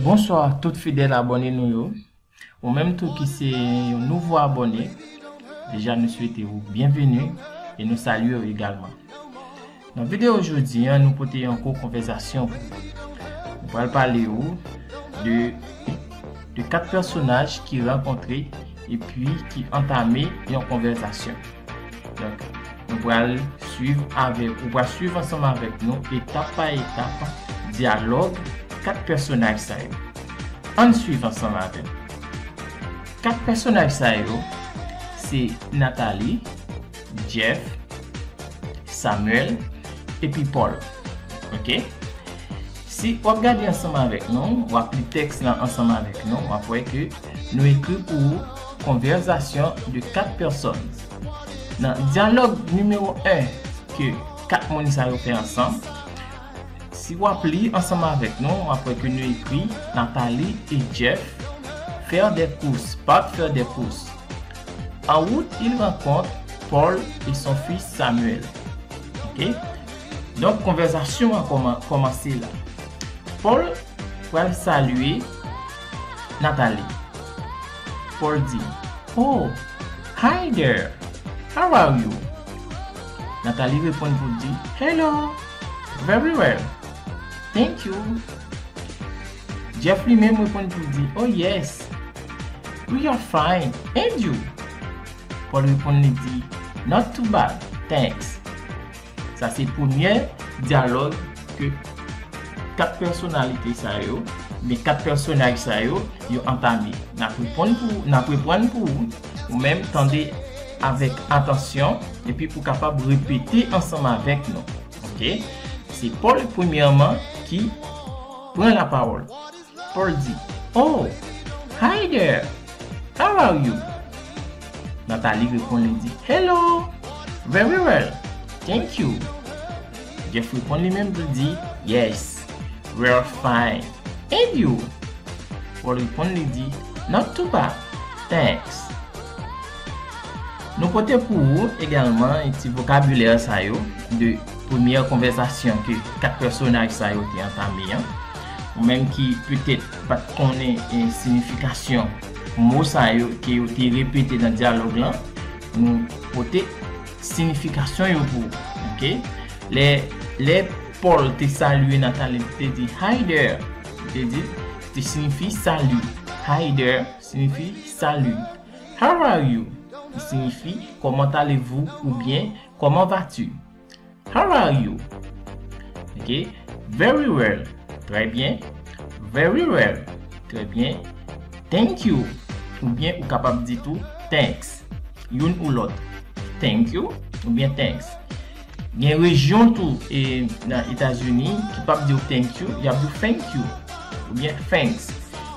Bonsoir tout fidèl abòne nou yo ou menm tou ki se yon nouvo abòne deja nou swete ou byenveni e nou salye ou egalman nan video jodi an nou pote yon kou konvèzasyon pou ou nou pral pale ou de de 4 pèsonaj ki rankontre epi ki antame yon konvèzasyon. Donk, nou pral swiv avèk, ou pral swiv ansanm avèk nou etap pa etap dyalòg 4 pèsonaj sa yo. Ann swiv ansanm avè m. 4 pèsonaj sa yo se Nathalie, Jeff, Samuel epi Paul. Ok. Si w ap gade ansanm avèk nou, w ap li tèks lan ansanm avèk nou, w ap wè ke nou ekri pou ou Conversation de 4 personnes. Nan dyalòg nimewo 1 ke 4 moun sa yo fè ansanm, si w ap li ansanm avèk nou, w ap wè ke nou ekri Nathalie et Jeff faire des courses, partent faire des courses. En route, ils rencontrent Paul et son fils Samuel. Ok? Donk konvèzasyon an kòmanse la. Pòl pral salye Natali. Pòl di, Oh, hi there! How are you? Natali reponn pou l di, Hello! Very well! Thank you! Jeff li menm reponn pou l di, Oh yes! We are fine! And you? Pòl reponn li di, Not too bad! Thanks! Sa se premyè dyalòg ke 4 pèsonalite sa yo, oubyen 4 pèsonaj sa yo, yo antame. N ap reponn pou ou, n ap reprann pou ou, ou menm tande avèk atansyon epi pou kapab repete ansanm avèk nou. Ok? Se Paul premyèman ki pran lapawòl. Ordi, Oh! Hi there! How are you? Nathalie reponn li di, Hello! Very well! Thank you! Jeff reponn li menm tou di, Yes! We're fine! And you? Paul reponn li di, Not too bad! Thanks! Nou pote pou ou egalman ti vokabilè sa yo de premyè konvèzasyon ke 4 pèsonaj sa yo te antame an. Ou menm ki petèt pat konnen sinifikasyon mo sa yo ke yo te repete nan dyalòg lan, nou pote sinifikasyon yo pou ou. Ok. Lè Paul te salye Nathalie li te di Hi there! Li te di, ki te sinifi sali. Hi there sinifi sali. How are you? ki signifi comment allez-vous oubyen comment vas-tu? How are you? Ok Very well, Trè byen Very well, Trè byen Thank you oubyen ou kapab di tou Thanks, youn ou lòt Thank you oubyen Thanks. Gen rejyon tou e nan Etazini ki pap diw thank you, yap diw fenk you oubyen fenks.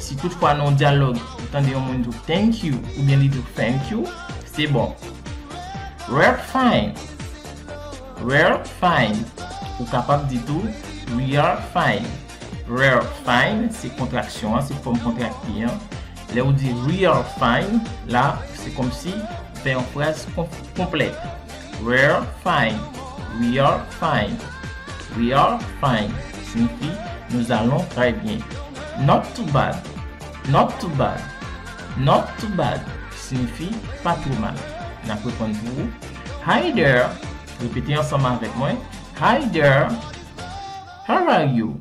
Si tout fwa nan yon dyalòg ou tande yon moun diw thank you oubyen li diw fenk you, se bon. Rare find Rare find Ou kapab di tou Rear find Rare find se kontraksyon an, se fòm kontrakte an. Lè ou di We are fine la, se kòmsi ou fè yon fraz konplèt. We're fine. We are fine. We are fine siyifi nous allons très bien. Not too bad. Not too bad. Not too bad siyifi pa two mal. N ap reponn pou ou. Hi there. Repete ansanm avèk mwen. Hi there. How are you?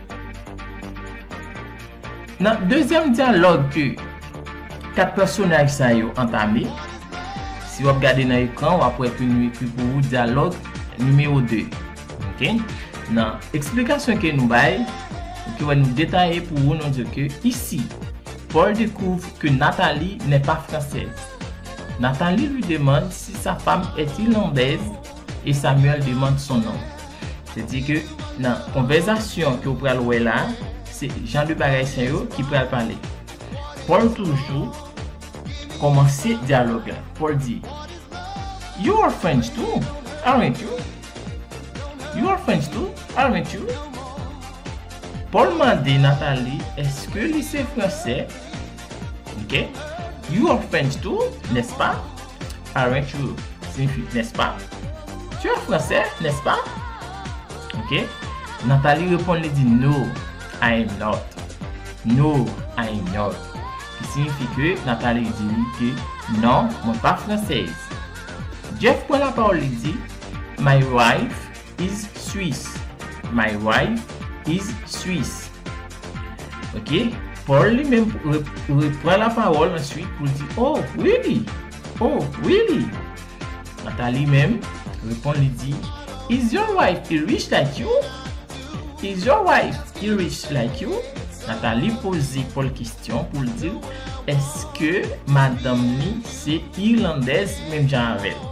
Nan dezyèm dyalòg ke 4 pèsonaj sa yo antame, si wap gade nan ekran wap wè ke nou ekri pou ou dyalòg nimewo 2. Ok. Nan eksplikasyon ke nou bay, ou te wè nou detaye pou ou nou di ke ici, Paul découvre que Nathalie n'est pas française. Nathalie lui demande si sa femme est irlandaise. e Samuel demande son nom. Se di ke nan konvèzasyon ke ou pral wè la, se jan de bagay sa yo ki pral pale. Paul toujou kòmanse dyalòg la. Paul di, You are French too, aren't you? You are French too, aren't you? Paul mande Nathalie eske li se Fransè? Ok You are French too, nèspa? Aren't you signifi nèspa? Tu es Fransè, nèspa? Ok Nathalie reponn li di No, I am not No, I am not Ki signifi ke Nathalie di li ke Non, mwen pa Fransèz Jeff pran lapawòl li di My wife is Swiss. My wife is Swiss. Ok, Paul li menm repran la pawòl answit pou l di, Oh, really? Oh, really? Nathalie menm reponn li di, Is your wife Irish like you? Is your wife Irish like you? Nathalie poze Paul kestyon pou l di l, Eske madanm li se Irlandèz menm jan avè l?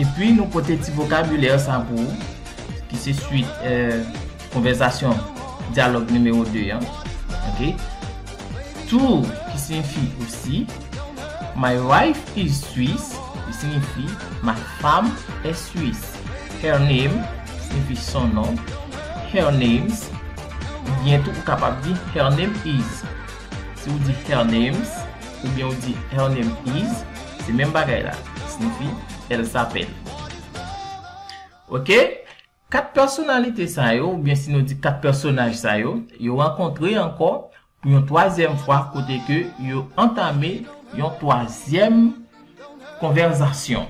Epi nou pote ti vokabilè sa pou ou ki se swit konvèzasyon dyalòg nimewo 2 an. Ok. Tour ki siyifi osi. My wife is Swiss ki siyifi ma fam è swis. Her name siyifi son non. Her names oubyen tou ou kapab di her name is. Si ou di her names. Oubyen ou di Her name is Se menm bagay la. Snifi Elle s'appelle. Ok? Kat pèsonalite sa yo, oubyen si nou di kat pèsonaj sa yo, yo rankontre ankò pou yon twazyèm fwa kote ke yo antame yon twazyèm konvèzasyon.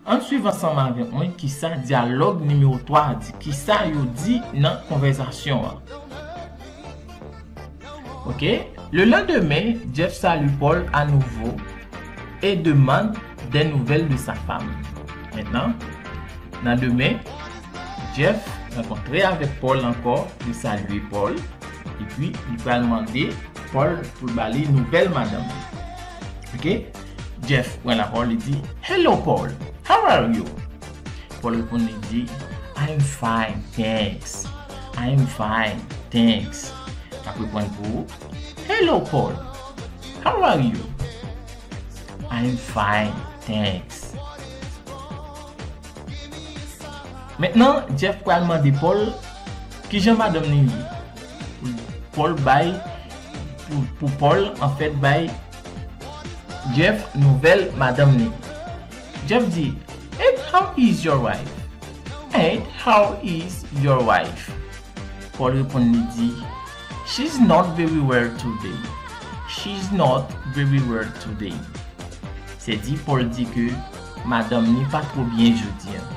Ann swiv ansanm avèk mwen kisa dyalòg nimewo 3 a di, kisa yo di nan konvèzasyon an. Ok, Le lendemain, Jeff salue Paul à nouveau et demande des nouvelles de sa femme. Maintenant, nan demen, Jeff rankontre avèk Paul ankò, li salye Paul, epi li pral mande Paul pou l ba li nouvèl madanm li. Ok. Jeff pran lapawòl li di, Hello Paul, how are you? Paul reponn li di, I am fine, thanks. I am fine, thanks. Map reprann pou ou, Hello Paul, how are you? I am fine, thanks. Mentnan Jeff pral mande Paul kijan madanm li ye. Paul bay, pou Paul anfèt bay Jeff nouvel madanm li. Jeff di, Ed how is your wife? Ed how is your wife? Paul reponn li di, She's not very well today. She's not very well today. Se di Paul di ke madanm li pa two byen jodi an.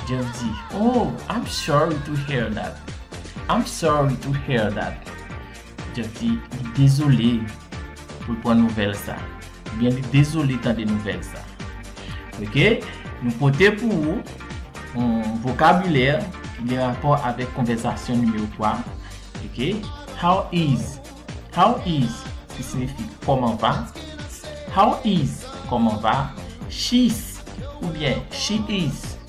Jeff di, Oh, I'm sorry to hear that. I'm sorry to hear that. Jeff di li dezole pou l pran nouvèl sa. Oubyen li dezole tande nouvèl sa. Ok, nou pote pou ou yon vokabilè ki gen rapò avèk konvèzasyon nimewo 3. Ok, how is, how is ki sinifi kòman va, how is kòman va, she's oubyen she is.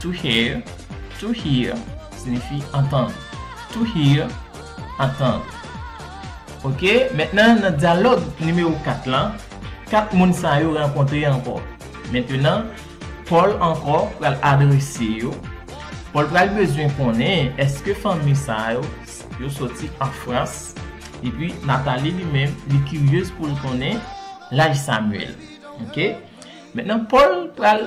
To hear, to hear, sinifi antann. To hear, antann. Ok, mentnan nan dyalòg nimewo 4 lan, 4 moun sa yo rankontre ankò. Mentnan, Pòl ankò pral adrese yo. Pòl pral bezwen konnen èske fanmi sa yo, yo soti an Frans. Epi Natali li menm, li kiryez pou l konnen laj Samyèl. Ok, mentnan Pòl pral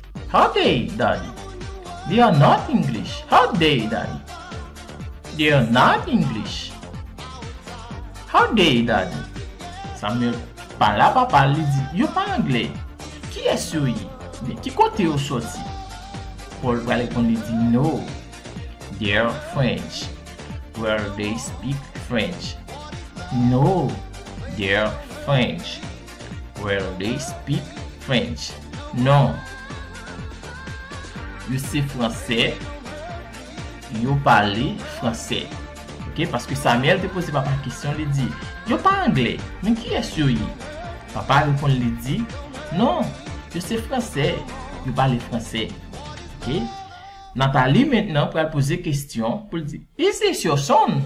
How day daddy? They are not English How day daddy? They are not English How day daddy? Samuel pala papa l li di yo pa anglè Kiyès yo ye? Oubyen ki kote yo soti? Paul pral reponn li di no They are French Well they speak French No They are French Well they speak French Non Yo se fransè Yo pale fransè Ok paske Samuel te poze papa kesyon li di Yo pa anglè Men kiyès yo ye Papa reponn li di Non Yo se fransè Yo pale fransè Ok Nathalie mentnan pral poze kesyon Pou l di Is this your son?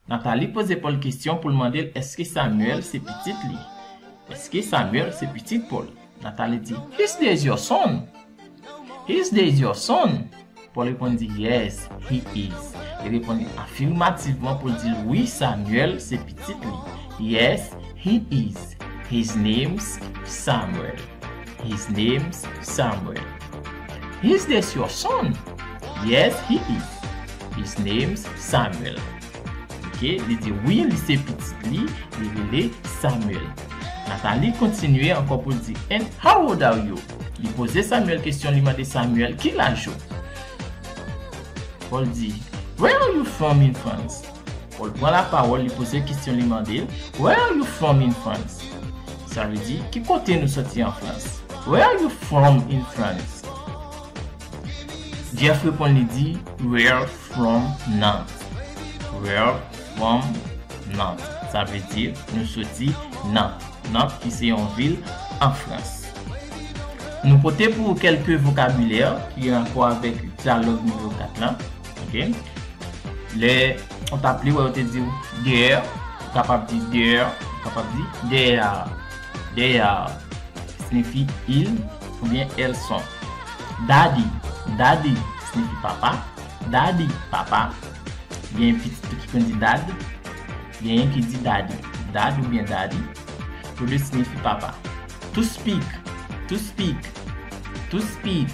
Nathalie poze Paul kesyon pou l mande l èske Samuel se pitit li. Èske Samuel se pitit Paul? Nathalie di, His days your son? His days your son? Paul reponn di, Yes, he is. Li reponn li afimativman pou l di l wi Samuel se pitit li. Yes, he is. His name's Samuel. His name's Samuel. His this your son? Yes he is. His name's Samuel. Ok, li di wi li se pitit li, li rele Samuel. Nathalie kontinye ankò pou l di And how old are you? Li poze Samuel kesyon, li mande Samuel ki laj ou? Paul di Where are you from in France? Paul pran lapawòl, li poze kestyon, li mande, Where are you from in France? Sa vle di, Ki kote nou soti an Frans? Where are you from in France? Jeff reponn li di, Where from Nantes? Where from Nantes? Sa vle di, Nou soti Nantes. Nantes ki se yon vil an Frans. Nou pote pou ou kèlke vokabilè ki gen rapò avèk dyalòg nimewo 4 lan. Ok. Lè ou ta pli wè yo te diw dèyè, ou kapab di dèyè, ou kapab di dèyè a. Dèyè a sinifi il oubyen el son. Daddy, daddy sinifi papa. Daddy, papa. Gen pitit tou ki konn di dad. Genyen ki di daddy. Dad oubyen daddy, tou de sinifi papa. To speak, to speak, to speak.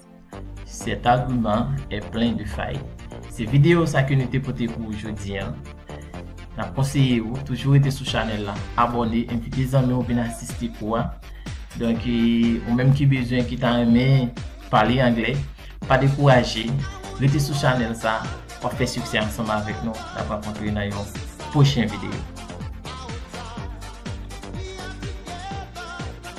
Cet argument est plein de faille. Se video sa ke nou te pote pou ou jodi an. Nap konseye ou toujou rete sou chanèl la, abòne, envite zanmi ou vin asiste kou a. Donk ou menm ki bezwen ki ta renmen pale anglè, pa dekouraje, rete sou chanèl sa, wap fè siksè ansanm avèk nou. Nap rankontre nan yon pwochen video.